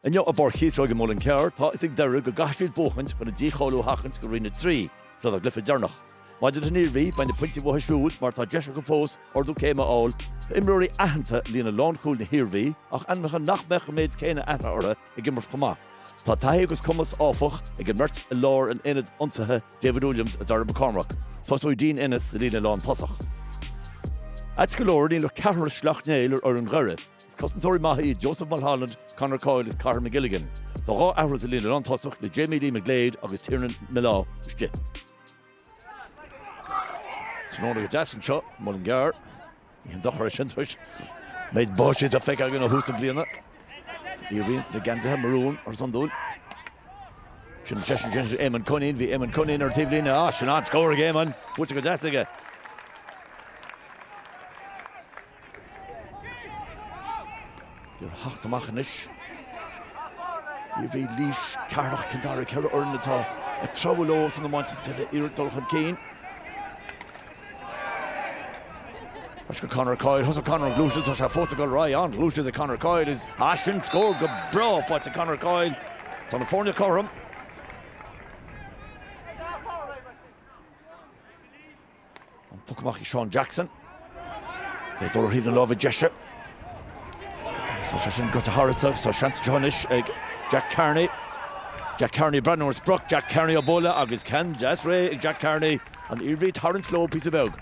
Inniu i bPáirc Chíosóig i Muileann Cearr, tá 'fhios ag Doire go gcaithfidh siad buachaint chun díbirt a sheachaint go Roinn 3, seo dá gcluiche deireanach. Maidir leis an Iarmhí, beidh na pointí uathu siúd mar tá deis acu fós ardú céime a fháil. Tá imreoirí aitheanta i líne lánchúil na hIarmhí ach ainmneacha nach mbeadh an méid céanna aithne orthu ag imirt chomh maith. Tá taithí agus cumas, áfach, ag an mbeirt i lár an aonaid ionsaithe, David Williams is Darragh McCormack, tosóidh Dean Ennis sa líne lántosach. Ait go leor, níl ach ceathrar Shleacht Néill ar fhoireann Dhoire. Is cosantóirí maithe iad Joseph Mulholland, Conor Coyle is Cahir McGilligan. Tá dhá athrú sa líne lántosach le Jamie Lee McGlade agus Tiernan Millar istigh. Tráthnóna go deas anseo, Muileann gCearr. Ní haon dochar é sin tar éis an méid báistí atá feicthe againn ó thús na bliana. Iarmhí sna geansaithe marún mar is iondúil. Sin an seisean sin, Éamonn Coinín. Bhí Éamonn Coinín ar an taobh líne. Á, sin an scór ag Éamonn. Buaite go deas aige. Doire ag teacht amach anois. Iarmhí Laois Ceatharlach Cill Dara ceithre fhoireann atá ag treabhadh leo san iomáint ag iarraidh dul chun cinn. Conor Coyle Thosaigh Conor an ghluaiseacht tá sé fós ag dul ar aghaidh an-ghluaiseacht ag Conor Coyle is ea sin scór go breá faighte ag Conor Coyle tá na foirne cothrom an puc amach ag Seán Jackson é ag dul ar thaobh na láimhe deise agus tá sé sin goite thairis agus tá seans anseo anois ag Jack Carney Jack Carney ag breathnú ar an sprioc Jack Carney á bualadh agus ceann deas réidh ag Jack Carney An Iarmhí ag tarraingt leo píosa beag.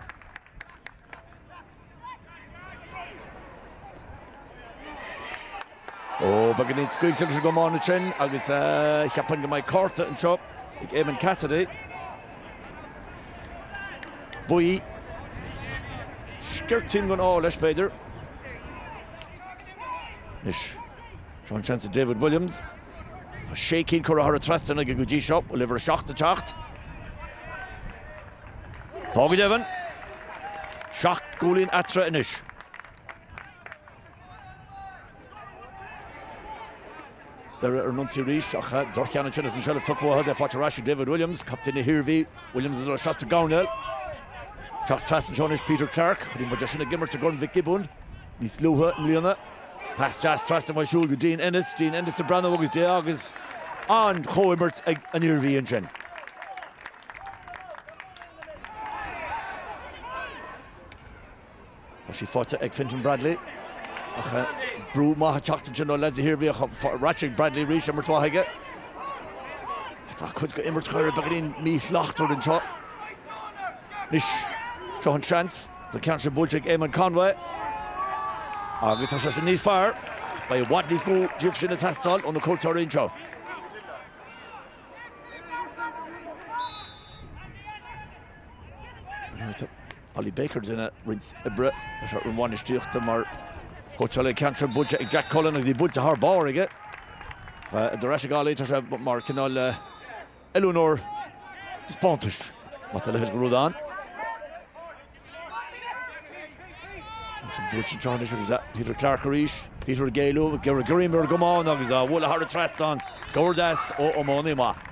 Ó, beagáinín scaoilte leis an gcomán ansin agus cheapfainn go mbeidh cárta anseo ag Eamonn Cassidy. Buí. Sciortín den ádh leis, b'fhéidir. Anois. Sin seans ag David Williams Tá sé cinn curtha thar an trasnán aige go dtí seo, bhfuil uimhir a seacht ag teacht. Tá go deimhin seacht gcúilín eatarthu anois. Doire ar an ionsaí arís ach dorchaíonn an tinneas an tseilbh tugtha uathu agus í faighte ar ais ag David Williams, captaen na hIarmhí. Williams idir a seacht go Domhnaill. Ag teacht trasna seo anois Peter Clarke, chonaic muid é sin ag imirt i gCorn Mhic Giobúin. Níos luaithe i mbliana, pas deas trasna uaidh siúd go Dean Ennis, Dean Ennis ag breathnú an dtí agus an-chomhimirt ag an Iarmhí ansin. Tá sí faighte ag Fintan Bradley ach brú maith ag teacht ansin ó leaids na hIarmhí ach rachaidh Bradley arís, imirt mhaith aige. Tá cuid acu imirt fóir beagáinín míshlachtmhar anseo. Anois, seo an seans. Tá ceann sin buailte ag Eamonn Conway agus tá sé sin níos fearr. Beidh i bhfad níos mó díobh sin a teastáil ó na cuairteoirí anseo. Ollie Baker ag déanamh roinnt oibre leis an bhainistíocht mar chóitseálaí ceann sin buailte ag Jack Cullen agus í buailte thar barr aige. Dar ndóigh ag Ollie tá sé mar cineál oiliúnóir taispeántais maidir le húsáid an chamáin. Ansin dúirt an tráth anois agus Peter Clarke arís, Peter ag géilleadh, ag iarraidh greim ar an gcamán agus a bhualadh thar an trasnán. Scór deas ó iománaí maith.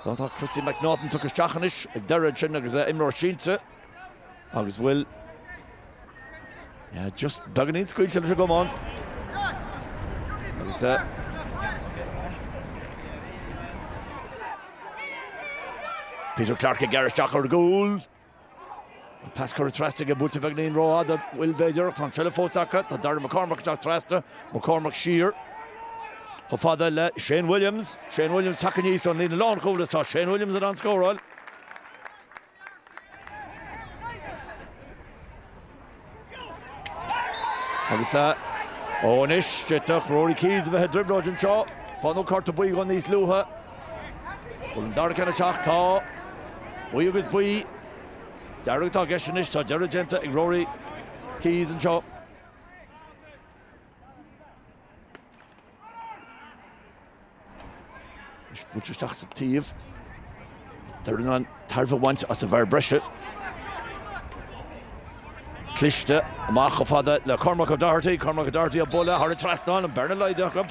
Tá Christy McNaughton tugtha isteach anois ag Doire ansin agus imreoir sínte. agus bhuel just beagáinín scaoilte leis an gcamán agus é. Peter Clarke ag gearradh isteach ar gcúl. An pas curtha trasna aige buailte beagáinín rófhada bhuel b'fhéidir, tá an tseilbh fós acu, tá Darragh McCormack isteach trasna, McCormack siar chomh fada le Shane Williams, Shane Williams tagtha aníos ón líne lánchúil is tá Shane Williams in ann scóráil. Agus ó anois, d'fhéadfadh Rory Keys a bheith i dtrioblóid anseo. Taispeánadh cárta buí dhó níos luaithe. Bhfuil an dara ceann ag teacht tá. Buí agus buí. Dearg atá i gceist anois, tá deireadh déanta ag Rory Keys anseo. Is buailte isteach sa taobh. Doire in ann tairbhe a bhaint as an bhfear breise. Cliste, amach chomh fada le Cormac O'Doherty. Cormac O'Doherty a buille thar an trasnán, an bearna laghdaithe acu.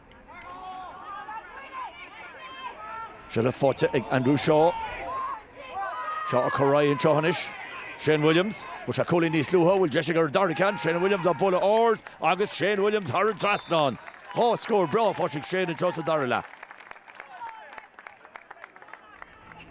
Seilbh faighte ag Andrew Shaw. Shaw ag cur ar aghaidh anseo anois. Shane Williams, fuair sé cúilín níos luaithe, bhfuil deis aige ar an dara ceann, Shane Williams an buille ard agus Shane Williams thar an trasnán. Dhá scór breá faighte ag Shane anseo sa dara leath.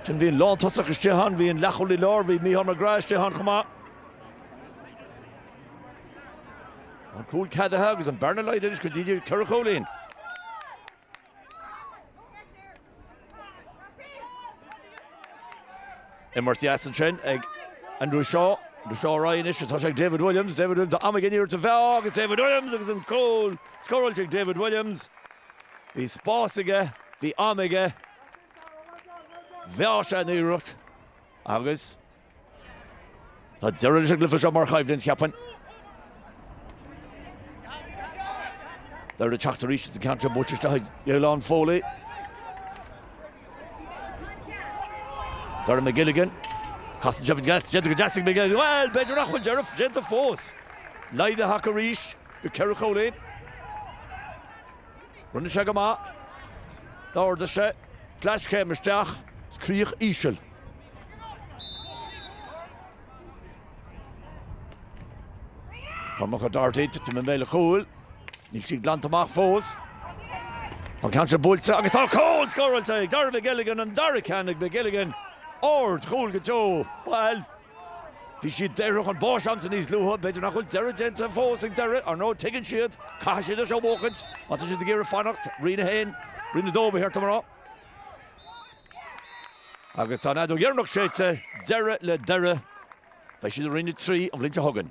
Ansin bhí an lántosach istigh ann, bhí an leathchúlaí láir, bhí Micheál Mac Graith istigh ann chomh maith. An cúl ceadaithe agus an bearna laghdaithe anois go dtí ceithre chúilín. Imirt dheas ansin ag Andrew Shaw. Andrew Shaw ar aghaidh anois, atá sé ag David Williams. David Williams tá am aige an iarracht a mheá agus David Williams agus an cúl scóráilte ag David Williams. Bhí spás aige, bhí am aige. Bhí sé an-íorónta agus tá deireadh leis an gcluiche seo mar choimhlint, cheapfainn. Doire ag teacht arís sa gceann seo buailte isteach ag Niall Loughlin. Darragh McGilligan. Casann sé faoin gcois, déanta go deas ag McGilligan. Bhuel, b'fhéidir nach bhfuil deireadh déanta fós. Laghdaithe acu arís go ceithre chomhléinn. Rinne sé go maith. D'ardaigh sé. Cleas céim isteach. Is críoch íseal. Cormac Doherty tite i mbéal an chúil. Níl sí glanta amach fós. Tá an ceann seo buailte agus tá cúl scóráilte ag Darragh McGilligan, an dara ceann ag McGilligan. Ard chúl go deo. Bhuel. Bhí siad daortha chun báis ansin níos luaithe, b'fhéidir nach bhfuil deireadh déanta fós ag Doire, ar ndóigh tuigeann siad, caithfidh siad é seo a bhuachaint má tá siad ag iarraidh fanacht, Roinn 1, Roinn 2 ba cheart dom a rá. Agus tá an fheadóg dheireanach séidte, deireadh le Doire, beidh siad i Roinn 3 an bhliain seo chugainn.